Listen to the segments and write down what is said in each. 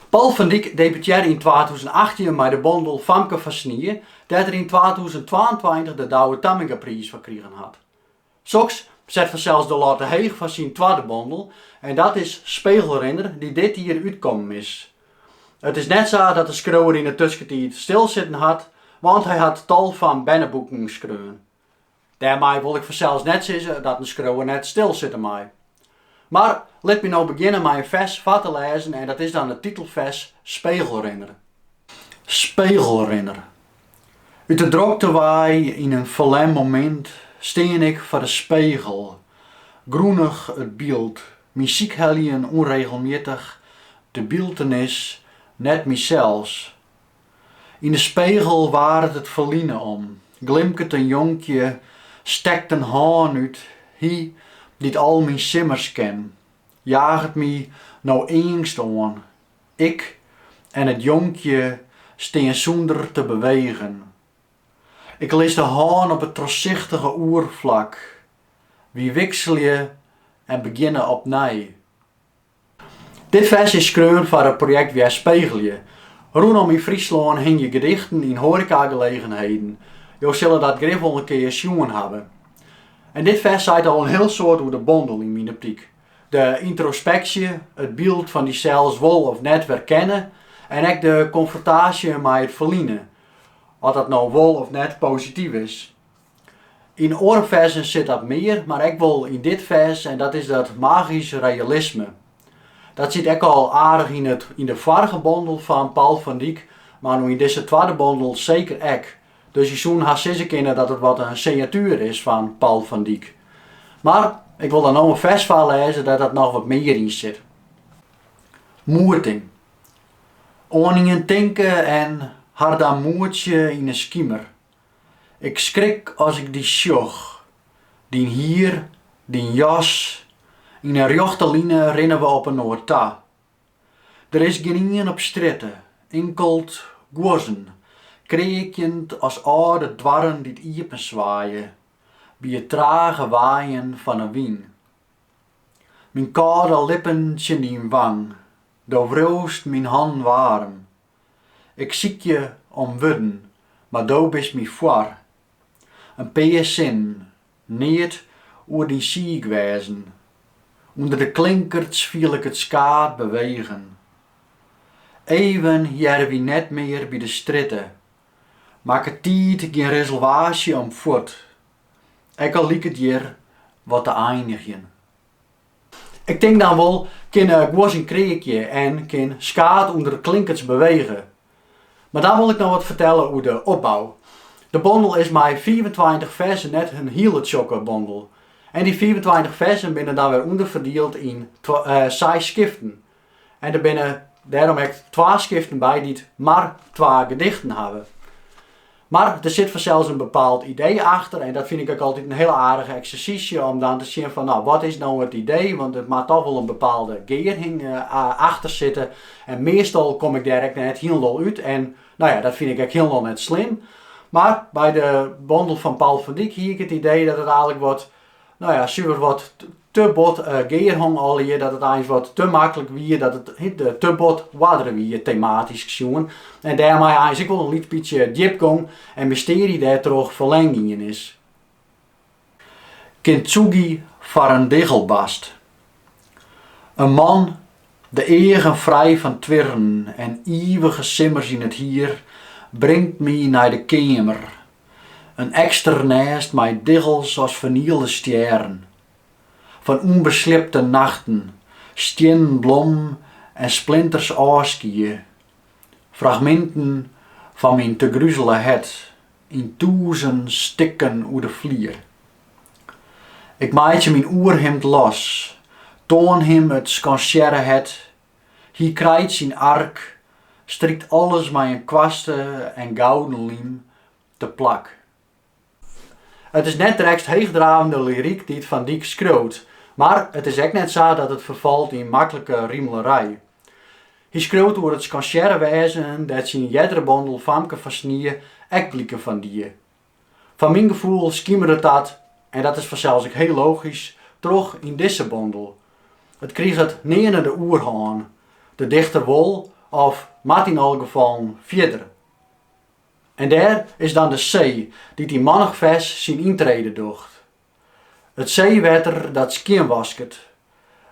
Paul van Dyk debutearre yn twatûzenachttjin mei de bondel Famke fan Snie, dêr't er yn twatûzentwaentweintich de Douwe Tammingapriis foar krigen hat. Soks set fansels de latte heech foar syn twadde bondel en dat is Spegelrinner dy't dit jier útkommen is. It is net sa dat de skriuwer yn 'e tuskentiid stilsitten hat, want hy hat tal fan berneboeken skreaun. Dêrmei wol ik fansels net sizze dat in skriuwer net stilsitte mei. Mar lit my no begjinne mei in fers foar te lêzen en dat is dan it titelfers Spegelrinner. Spegelrinner. Ut de drokte wei yn in ferlern momint stean ik foar de spegel, grûnich it byld, myn sykheljen ûnregelmjittich, de byltenis, net mysels, Yn de spegel waaret it ferline om, glimket in jonkje, stekt in hân út, Hy dy't al myn simmers ken, jaget my no eangst oan. Ik en it jonkje stean sûnder te bewegen. Ik lis de hân op it trochsichtige oerflak, wy wikselje en begjinne opnij. Dit fers is skreaun foar it projekt Werspegelje. Rûnom yn Fryslân hingje gedichten yn hoarekagelegenheden. Jo sille dat grif wol in kear sjoen hawwe. En dit fers seit al in hiel soad oer de bondel yn myn optyk. De yntrospeksje, it byld fan dysels wol of net werkenne en ek de konfrontaasje mei it ferline, oft dat no wol of net posityf is. Yn oare ferzen sit dat mear, mar ek wol yn dit fers en dat is dat magysk realisme. Dat siet ek al aardich yn it yn de foarige bondel fan Paul van Dyk, mar no yn dizze twadde bondel seker ek. Dus je soene hast sizze kinne dat it wat in signatuer is fan Paul van Dyk. Mar ik wol dan no in fers foarlêze dêr't dat noch wat mear yn sit. Moeting. Oan ien tinke en har dan moetsje yn 'e skimer. Ik skrik as ik dy sjoch. Dyn hier, dyn jas, yn in rjochte line rinne we op inoar ta. Der is gjin ien op strjitte, inkeld guozzen, kreakjend as âlde doarren dy't iepenswaaie by it trage waaien fan 'e wyn. Myn kâlde lippen tsjin dyn wang, do wriuwst myn hannen waarm. Ik siikje om wurden, mar do bist my foar. In pear sinnen, net oer dyn siik wêzen. Under de klinkerts fiel ik it skaad bewegen. Even hearre wy net mear by de strjitte. Makket tiid gjin reservaasje om fuort, ek al liket hjir wat te einigjen. Ik tink dan wol, kin gûzjen kreakje en kin skaad ûnder de klinkerts bewege. Mar dan wol ik noch wat fertelle oer de opbou. De bondel is mei fiifentweintich ferzen net in hiele tsjokke bondel. En dy fiifentweintich ferzen binne dan wer ûnderferdield yn seis skiften, En der binne dêrom ek twa skiften by dy't mar twa gedichten hawwe. Mar der sit fansels in bepaald idee achter en dat fyn ik ek altyd in hiele aardige eksersysje om dan te sjen fan no wat is no it idee, want der moat toch wol in bepaalde gearhing achter sitte. En meastal kom ik dêr ek net hielendal út en no ja, dat fyn ik ek hielendal net slim. Mar by de bondel fan Paul van Dijk hie ik it idee dat it einlik wat no ja, suver wat te bot eh, gearhong allegear dat it eins wat te maklik wie, dat it eh, te bot oardere wie tematysk sjoen. En dêrmei eins ek wol in lyts bytsje djipgong en mystearje dêrtroch ferlern gien is. Kintsugi foar in diggelbast. In man, de eagen frij fan twirren en ivige simmers yn it hier, bringt my nei de keamer In eksternêst mei diggels as fernielde stjerren, fan ûnbesliepte nachten, stiennen blommen en splinters ôfskie, fragminten fan myn tegruzele hert yn tûzen stikken oer de flier. Ik meitsje myn oerhimd los, toan him it skansearre hert Hy krijt syn ark, strykt alles mei in kwaste en gouden lym te plak. It is net drekst heechdravende lyryk dy't Van Dijk skriuwt, mar it is ek net sa dat it ferfalt yn maklike rimelerij. Hy skriuwt oer it skansearre wêzen dêr't syn eardere bondel Famke fan Snie ek bliken fan die. Foar myn gefoel skimeret dat, en dat is fansels ek hiel logysk, troch yn dizze bondel. It kriget nearne de oerhân, de dichter wol of moat yn alle gefallen fierder. En dêr is dan de see dy't yn mannich fers syn yntrede docht. It seewetter dat skjinwasket,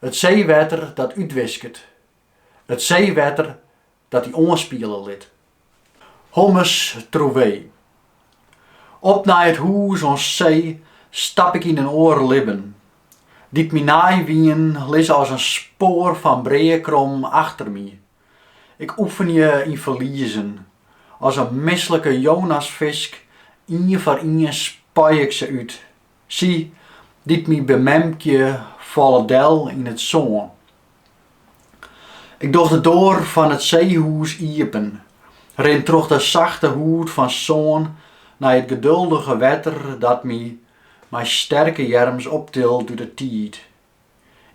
it seewetter dat útwisket, it seewetter dat dy oanspiele lit. Hommes trouvé. Op nei it hûs oan see stap ik yn in oar libben, dy't my nei wien, lizze as in spoar fan breakrom achter my. Ik oefenje yn ferliezen, as in mislike Jonasfisk, ien foar ien spei ik se út, Sy, dy't my bememkje, falle del yn it sân. Ik doch de doar fan it seehûs iepen, rin troch de sachte hûd fan sân nei it geduldige wetter dat my mei sterke earms optilt út 'e tiid,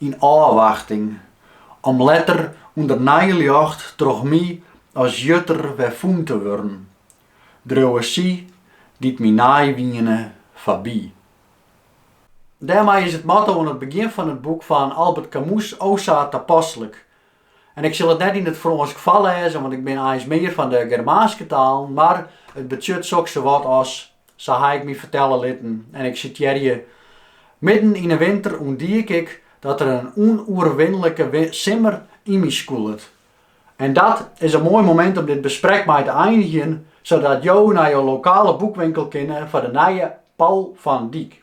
yn ôfwachting om letter ûnder nij ljocht troch my as jutter wer fûn te wurden, dreauwe sy dy't my nij wiene foarby. Dêrmei is it motto oan it begjin fan it boek fan Albert Camus o sa tapaslik, En ik sil it net yn it Frânsk foarlêze, want ik bin eins mear fan de Germaanske talen, mar it betsjut soks sawat as, sa ha ik my fertelle litten, en ik sitearje, Midden yn 'e winter ûntdiek ik dat der in ûnoerwinlike simmer yn my skûlet. En dat is in moai momint om dit besprek mei te einigjen, sadat jo nei jo lokale boekwinkel kinne foar de nije Paul van Dijk.